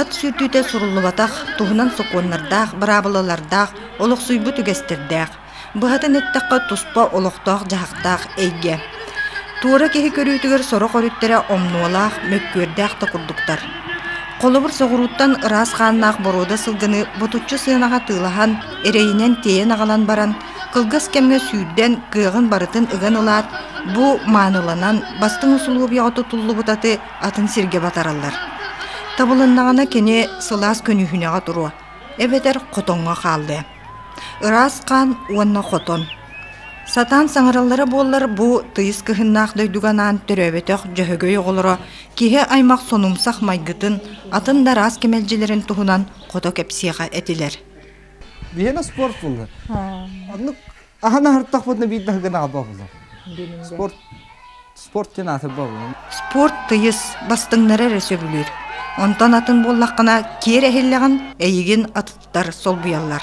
Ат сүүрдүүтэ суруллубатах, туһунан сокуоннардаах, быраабылалардаах, олохсуйбут үгэстэрдээх. Быһатын эттэххэ, туспа олохтоох-дьаһахтаах эйгэ. Туора киһи көрүүтүгэр сорох өрүттэрэ омнуолаах, мөккүөрдээх да курдуктар. Холобур, соҕурууттан ыраас хааннаах боруода сылгыны ботуччу сыанаҕа тыылаһан, эрэйинэн тиэйэн аҕалан баран, кылгас кэмҥэ сүүрдэн, кыаҕын барытын ыган ылаат, бу мааныланан, бастыҥ усулуобуйаҕа тутуллубут аты атын сиргэ батараллар. Табылыннаҕына кини сылаас көнүһүнэҕэ туруо, эбэтэр хотоҥҥо хаалыа. Ыраас хаан уонна хотон. Сатаан саҥараллара буоллар бу тыйыс кыһыннаах дойдуга анаан төрөөбөтөх Дьөһөгөй оҕолоро киһи аймах сонумсах майгытын, атын да араас кэмэлдьилэрин туһунан хото кэпсиэхэ этилэр. Вена спортсмена. Оннук Ахан аһартахпытына биир да гынаҕа бобулар. Спорт спорт диэн атын бобулар. Спорт тыйыс бастыҥнара эрэ сөбүлүүр. Онтон атын буоллаххына киэр эһиллэҕин, эйигин атыттар солбуйаллар.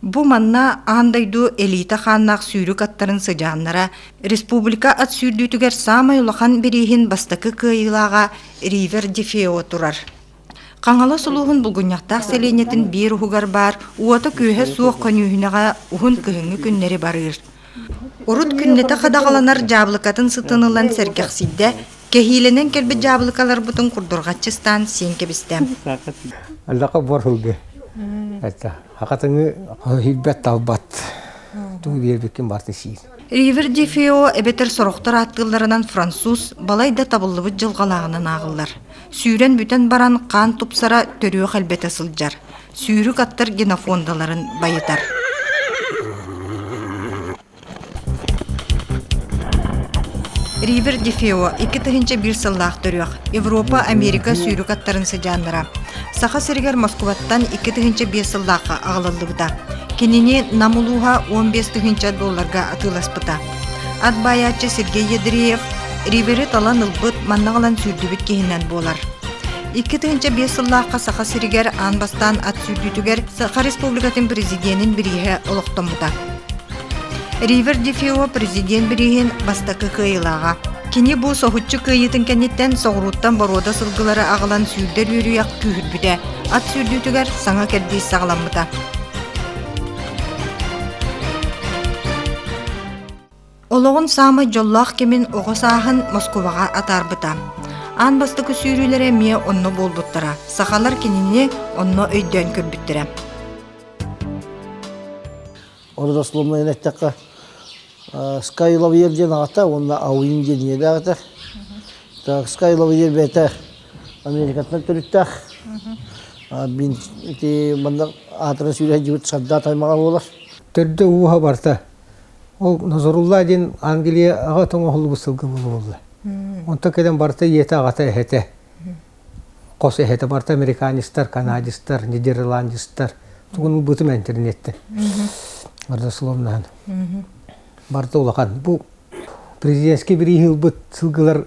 Бу манна аан дойду элиитэ хааннаах сүүрүк аттарын сыдьааннара республика ат сүүрдүүтүгэр саамай улахан бирииһин бастакы кыайыылааҕа Ривер де Фео турар. Хаҥалас улууһун Булгунньахтаах сэлиэнньэтин биир уһугар баар уота-күөһэ суох көньүүһүнэҕэ уһун кыһыҥҥы күннэри барыыр. Урут күннэтэ хадаҕаланар дьаабылыкатын сытын ылан сэргэхсийдэ, кэһиилэнэн кэлбит дьаабылыкаларбытын курдурҕаччы ыстаан сиэн кэбистэ. Аллаха буорһылгы. Хакатыҥы хоһуйбат талбат. Тугу биэрбиккин барты сиин. Ривер де Фео эбэтэр сорохтор ааттыылларынан француз балай да табыллыбыт дьылҕалааҕынан ааҕыллар. Сүүрэн бүтэн баран хаан тупсара төрүөх элбэтэ сылдьар. сүүрүк аттар генофондаларын байытар Ривер Дефео икки тыһыынча биир сыллаах төрүөх Европа Америка сүүрүк аттарын сыдьааннара Саха сиригэр Москубаттан икки тыһыынча биир сыллаахха аҕалыллыбыта кинини Нам улууһа он бес тыһыынча долларга атыыласпыта ат баайааччы Сергей Ядреев Риверы талан ылбыт манна ылан сүүрдүбүт киһинэн буолар Икки тыһыынча биэс сыллаахха Саха сиригэр аан бастаан ат сүүрдүүтүгэр Саха Республикатын Президенин бирииһэ олохтоммута. Ривер Дефио президент бирииһин бастакы кыайыылааҕа. Кини бу соһуччу кыайыытын кэнниттэн соҕурууттан боруода сылгылары аҕалан сүүрдэр үөрүйэх күүһүрбүтэ. Ат сүүрдүүтүгэр саҥа кэрдиис саҕаламмыта. Олоҕун саамай дьоллоох кэмин оҕо сааһын Москубаҕа атаарбыта. Аан бастакы сүүрүүлэрэ эмиэ онно буолбуттара. Сахалар кинини онно өйдөөн көрбүттэрэ. Ону дословно эттэххэ Sky Lavalier диэн аҕата уонна Ауин диэн ийэлээх этэ. Так, Sky Lavalier бэйэтэ Америкаттан төрүттээх. Мин ити манна аатыран сүүрэ сылдьыбыт Сардаат аймаҕа буолар. Төрдө ууһа барта Ол Назарулла диэн Англияҕа тоҥоһуллубут сылга буолуо. Онтон кэлэн барыта ийэтэ-аҕата эһэтэ. Хос эһэтэ барыта американецтар, канадецтар, нидерландецтар. Тугун ылбытым интернеттен. Родословнаһын. Барыта улахан. Бу президентский бирииһи ылбыт сылгылар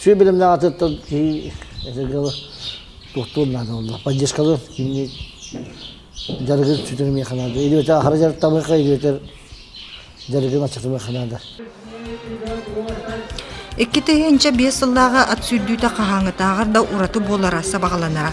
Сүр билимнээх атыттан киһи этэргэ туохтуун наада буолла. Поддержкалар кимни дьарыгын сүтүрүмэ ханаада. Идибэтэ ахара дьарык тамыка идибэтер дьарыгын аччатымы ханаада. Икки тыһыынча биэс сыллааҕы ат сүүрдүүтэ хаһааҥҥытааҕар да ураты буолара сабаҕаланара.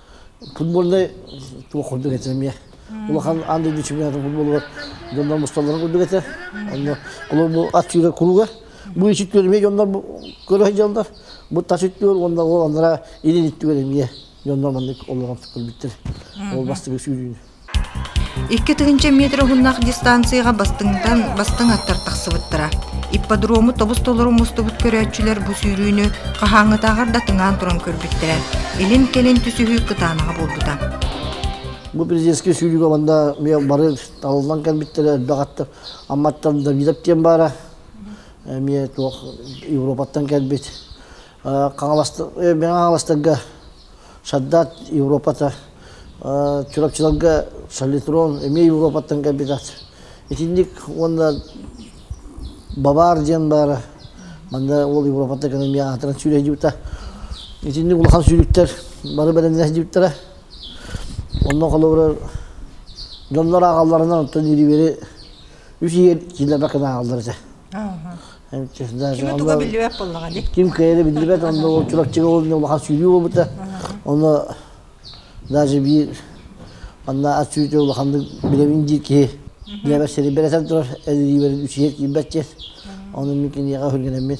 футбольнай туох курдук этэ эмиэ улахан аан дойду чемпионатын футболугар дьоннор мусталларын курдук этэ онно кулуп бу аттыыра куруга бу ичит көрүмэ дьоннор көрө сылдьаллар бу тас үттүөр уонна ол анара илин иттүгэр эмиэ дьоннор маннык олорон көрбүттэр ол бастыгы сүүрүүнү Икки тыһыынча метр уһуннаах дистанцияҕа бастыҥтан бастыҥ аттар тахсыбыттара. Ипподрому тобус-толору мустубут көрөөччүлэр бу сүүрүүнү хаһааҥҥытааҕар да тыҥаан туран көрбүттэрэ, илин-кэлин түсүһүү кытаанаҕа буолбута. Бу президентскэй сүүрүүгэ манна миэ бары талыллан кэлбиттэрэ элбэх аттар амматтан Давидов диэн баара эмиэ туох Европаттан кэлбит Хаҥаластарга Сардаат Европата, Чурапчыларга Солитрон эмиэ Европаттан кэлбитэ. Итинник уонна Бавар диэн баара. Манна ол Европаттан кэлэн эмиэ аатыран сүүрэһдьибитэ. Итинник улахан сүүрүктэр бары бэлэмнэһдьибиттэрэ. Онно холобура дьоннор ааҕалларынан оттон ириэри үс ийэ киилэрбэ кынааллар этэ. Кими туга биллибэт буоллаҕа ини? Ким кыайа да биллибэт, онно ол Чурапчыга ол улахан сүүрүү буолбута. Ону даже биир манна ат сүүрүүтэ улаханнык билэбин диир киһи дьэ сири бэлэтэн турар эдириибэрин үсүйэт киирбэт диэн. Ону мин киниэхэ хүргэнэммин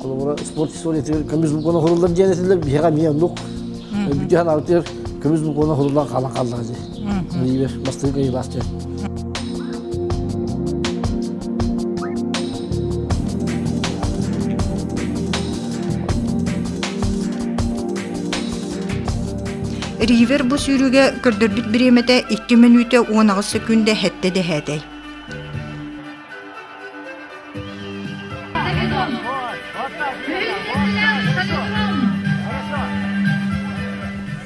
холобура спорт историятыгар көмүс булкуна хуруллар диэн этилэр биһиэхэ эмиэ оннук бүддьү ханаабытыгар көмүс булкуна хуруллан хаалан хааллаҕа дии биир бастыҥ кыйы баас диэн Ривер бу сүүрүүгэ көрдөрбүт бириэмэтэ икки мүнүүтэ уон аҕыс секунда хэттэ дэһээтэй.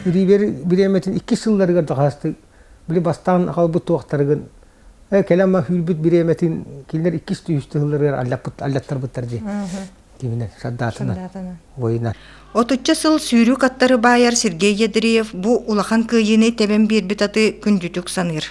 Ривер бириэмэтин иккис сылларыгар дакаастык били бастаан аҕалбыт туохтарыгын кэлэн ма хүүлбүт бириэмэтин кинилэр иккис түһүстэ сылларыгар аллаттарбыттар дии киминен сардаатынан военан отучча сыл сүүрүү каттары баайар Сергей Ядреев бу улахан кыайыыны тэбэн биэрбит аты күндүтүк саныыр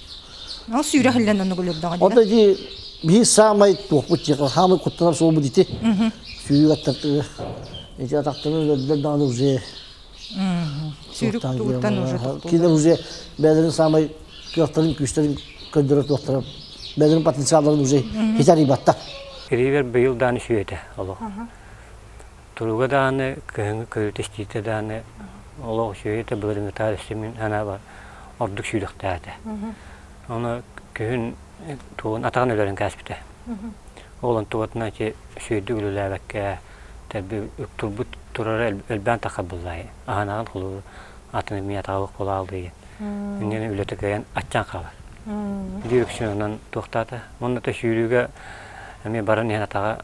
Ол сүүрэх иллен оннук үлүрдөҕө дии. Ота дии биир саамай туохпут дьиэҕэ хаамай куттанар суолбут ити. Сүүрүк аттартыы. Ити атахтары өлөрдөр даҕаны уже Сүүрүк тугуттан уже туттулар. Кинилэр уже бэйэлэрин саамай кыахтарын күүстэрин көрдөрө туохтара бэйэлэрин потенциалларын уже хитэр ыйбатта. Ривер быйыл даан үсүөтэ олох. Туруга даҕаны, кыһыҥҥы көрүүтэ истиитэ даҕаны олох үчүгэй да былырыыҥҥытаҕар истимин санаабар ордук сүүрэхтээтэ. Ону күһүн тугун атаҕын өлөрөн кээспитэ. Уолун тугатынан ити сүөдүк үлэлээбэккэ тэрби турбут турара элбээн таххар буллаайы. Аһынааҕын холууру атын эмиэ атаҕа кулаалыйын. Иннинэ үлэтэ кыайан аччаан хаалар. Биир үксүнэн туохтаата. Манна да сүүрүүгэ эмиэ баран иһэн атаҕа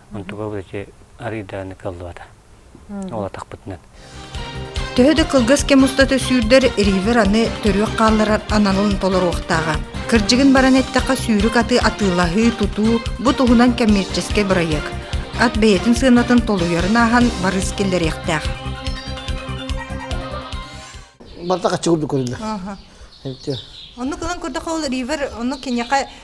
Онту Володя арыйдааны кыллыбата. Ол атахпытынан. Төһө да кылгас кэм устата сүүрдэр, Ривер аны төрүөх хаалларар аналын толоруохтааҕа. Кырдьыгын баран эттэххэ, сүүрүк аты атыылаһыы, тутуу бу туһунан коммерческэй бырайыак. Ат бэйэтин сыанатын толуйарын ааһан барыс киллэриэхтээх. Барда каччыгып көрүннэ. Онну кылан көрдөхө ол Ривер, ону киниэхэ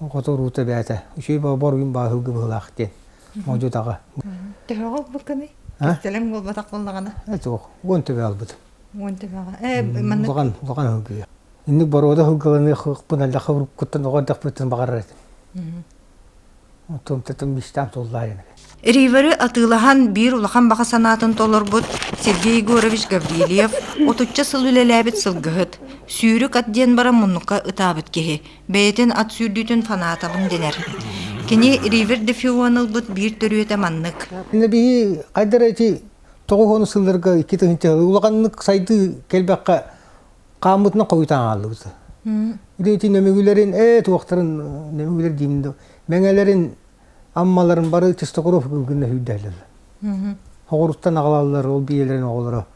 Охото руута бээтэ. Үчүгэй бобор үн бааһылгы быһылаах диэн. Модьутаҕа. Төһө буолбуккыный? Тэлэм буолбатах буоллаҕына. Эт уох. Уон төбө албыт. Уон төбөҕө. Ээ, маннык. Улахан, улахан аһылгыйа. Инник боруода аһылгыланыахпын аллаха уруккуттан оҕо эрдэхпиттэн баҕарар этим. тумтутум бистам туллаайын. Ривары атыылаһан биир улахан баҕа санаатын толорбут Сергей Егорович Гаврильев отучча сыл үлэлээбит сылгыһыт, сүүрүк ат диэн баран муннукка ытаабыт киһи, бэйэтин ат сүүрдүүтүн фанатабын дэнэр. Кини Ривер де Фион ылбыт биир төрүөтэ маннык. Иннэ биһи хайдара эти тоҕус уон сылларга икки тыһыынча улаханнык сайдыы кэлбэххэ хааммытынан хойутаан хааллыбыт. Итин өмүгүлэрин, ээ туохтарын өмүгүлэр диимин да, мэҥэлэрин, аммаларын бары Чистокуров гынна сүүрдэһэллэр. Хоҕуруттан аҕалаллар ол биэлэрин оҕолоро.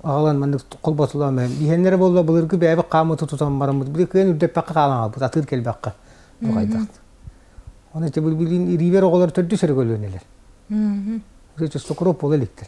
Аҕалан маннык холботулаан бэйэм. Иһэннэрэ буолла былыргы бэйэбит хааммыты тутан бараммыт. Били кыайан үрдэппэккэ хаалан хаалбыт, атыыр кэлбэккэ. Тоҕайдахт. Оны те былбилин ириибэр оҕолор төрдүс өрө көлүөнэлэр. Чистокуров буола иликтэр.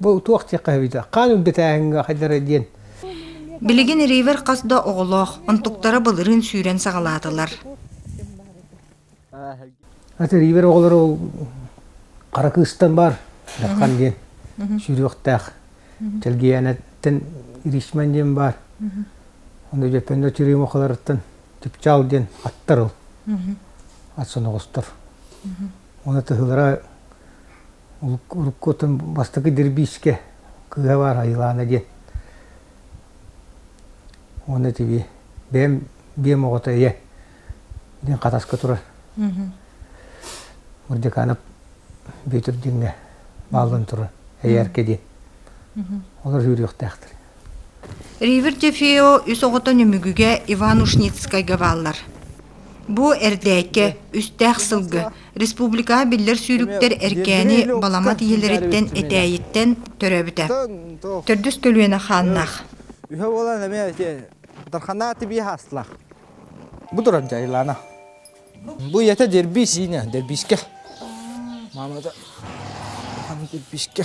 Бу туох диэххэ сөбүтэ, хаан үрдэтээһиҥҥэ хайдара диэн. Билигин Ривер хас да оҕолоох, онтуктара былырыын сүүрэн саҕалаатылар. Аты Ривер оҕолоро ол хара кыыстан баар Дархан диэн сүрүөхтээх. Тэлгиэнэттэн Иришман диэн баар. Онно Дьөппөннө Чырыымахаларыттан Чыпчаал диэн аттар ол. Ат соноҕостор. Уонна тыһылара урукку отон бастакы дербиискэ кыыһа баар Айылаана диэн. Уонна итиби бэйэм биэм оҕото ийэ диэн хатаска турар. Мурдиканов Бүөтүр диэҥҥэ бааллан турар эйээрке диэн. Олор сүүрүөхтээхтэр. Ривердефео үс оҕото Нөмүгүгэ Иванушницкайга бааллар. Бу эрдээккэ үстээх сылга республикаҕа биллэр сүүрүктэр эркээни баламат ийэлэриттэн этээйиттэн төрөөбүтэ. Төрдүс көлүөнэ хааннаах. Үһэ буолан эмиэ ити Дарханаа тибии хаастылаах. Бу туран дьайылаана. Бу ийэтэ дербиис иинэ, дербиискэ. Маамата Дархан дербиискэ.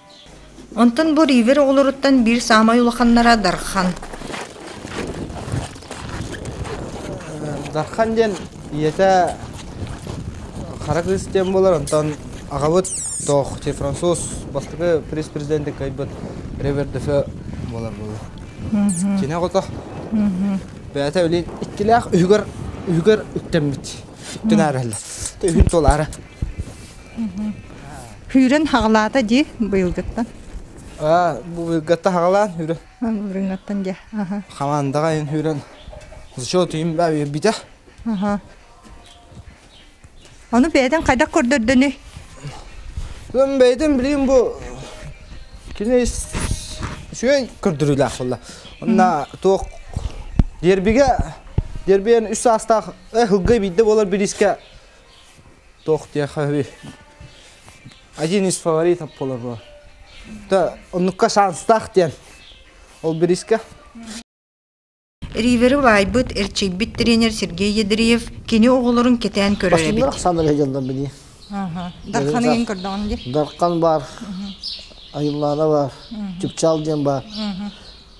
Онтон бу Ривер оҕолоруттан биир саамай улаханнара Дархан. Дархан диэн ийэтэ хара кыыс диэн буолар, онтон аҕабыт тоохчи француз бастакы пресс-президенти кыайбыт Ривер Дефе буолар буолла. Кини аҕата бэйэтэ билигин иккилээх үһүгэр үһүгэр үктэммит. Үтүн ааралла. Үһүн туолаара. Күүрэн хаҕылаата дии быйылгыттан. Аа, бу быйылгыттан хаҕылаан хүрэн. Үрүҥҥаттан дьэ. Хамандаҕа айын хүрэн. Зачет им битэ. Ону бэйэтин хайдах көрдөрдөнүй? Ön бэйэтин билим бу кини үчүгэй көрдөрүүлээх болла. Онна туох дербиге дербиен үс саастаах һылгай бидде болар бирискэ Туох диэххэһий? Один из фаворитов буолабо. Да, оннукка шанстаах диэн. Ол бириискэ. Ривері лаайбыт, эрчийбит тренер Сергей Ядреев кини оҕолорун кэтээн көрөр эбит. Бастыылар дьаллар билии. Дарханыгын көрдөҕүн ди. Дархан бар. Айыллаана бар. Чупчал диэн бар.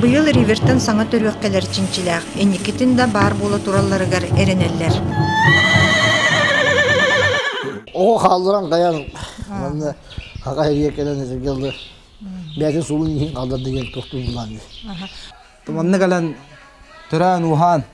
Быйыл Ривертон саҥа төрүөх кэлэр чинчилээх, инникитин да баар буола туралларыгар эрэнэллэр. Оҕо хаалларан кайан манна хака эриэ кэлэн этиргэллы бэйэтин суолун иһин калдар деген тохтуубулаан манна кэлэн төрөөн уһаан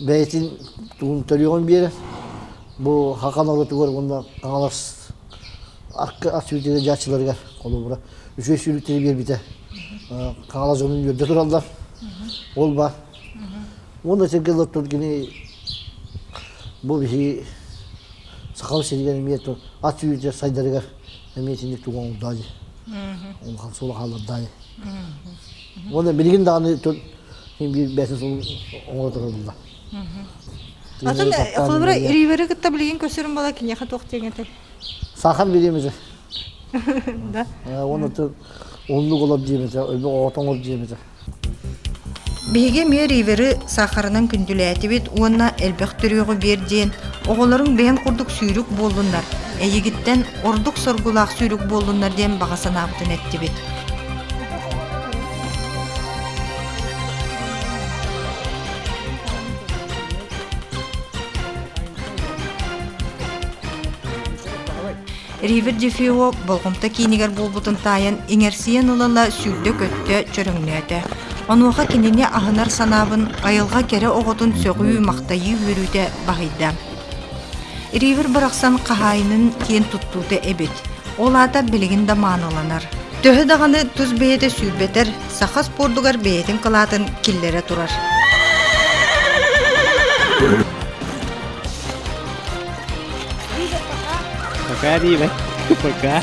бэйэтин тугун төлүөҕүн биэрэр бу хакан оротугар уонна хаҥалас арка ас сүүрдэрэ дьааччыларыгар холобура үчүгэй сүүрүктэри биэрбитэ хаҥалас дьонун үөрдэ тураллар ол баар уонна этиргэ ыллар кини бу биһиги сахалар сиригэр эмиэ ат сүүрдэ сайдарыгар эмиэ итинник тугу оҥордаа дии улахан суол хааллардаа дии Уонна билигин даҕаны тот ким биир бэсис оҥоро турулла. Атын холобура Риверы кытта билигин көрсөрүн бала киниэхэ туох диэн этэр? Сахан бириэмизе. Да. Уонна тыл уллук олоп диэмизе, өлбөк оҕотоңор диэмизе. Биһиги эмиэ Риверы сахарынан күндүлээтибит уонна элбэх түрүөҕү биэр диэн оҕолорун бэйэн курдук сүүрүк буоллуннар, эйигиттэн ордук соргулаах сүүрүк буоллуннар диэн баҕа санаабытын эттибит. Ривер Дефио болҕомто киинигэр буолбутун таайан иҥэрсийэн ылала сүүрдэ-көттө, чөрөҥнөөтө. Онуоха кинини аһынар санаабын айылҕа кэрэ оҕотун сөҕүү-махтайыы үөрүүтэ баһыйда. Ривер барахсан хаһаайынын киэн туттуута эбит. Ол аата билигин да мааныланар. Төһө даҕаны тус бэйэтэ сүүрбэтэр, саха спордугар бэйэтин кылаатын киллэрэ турар. Пока, Ривер. Пока.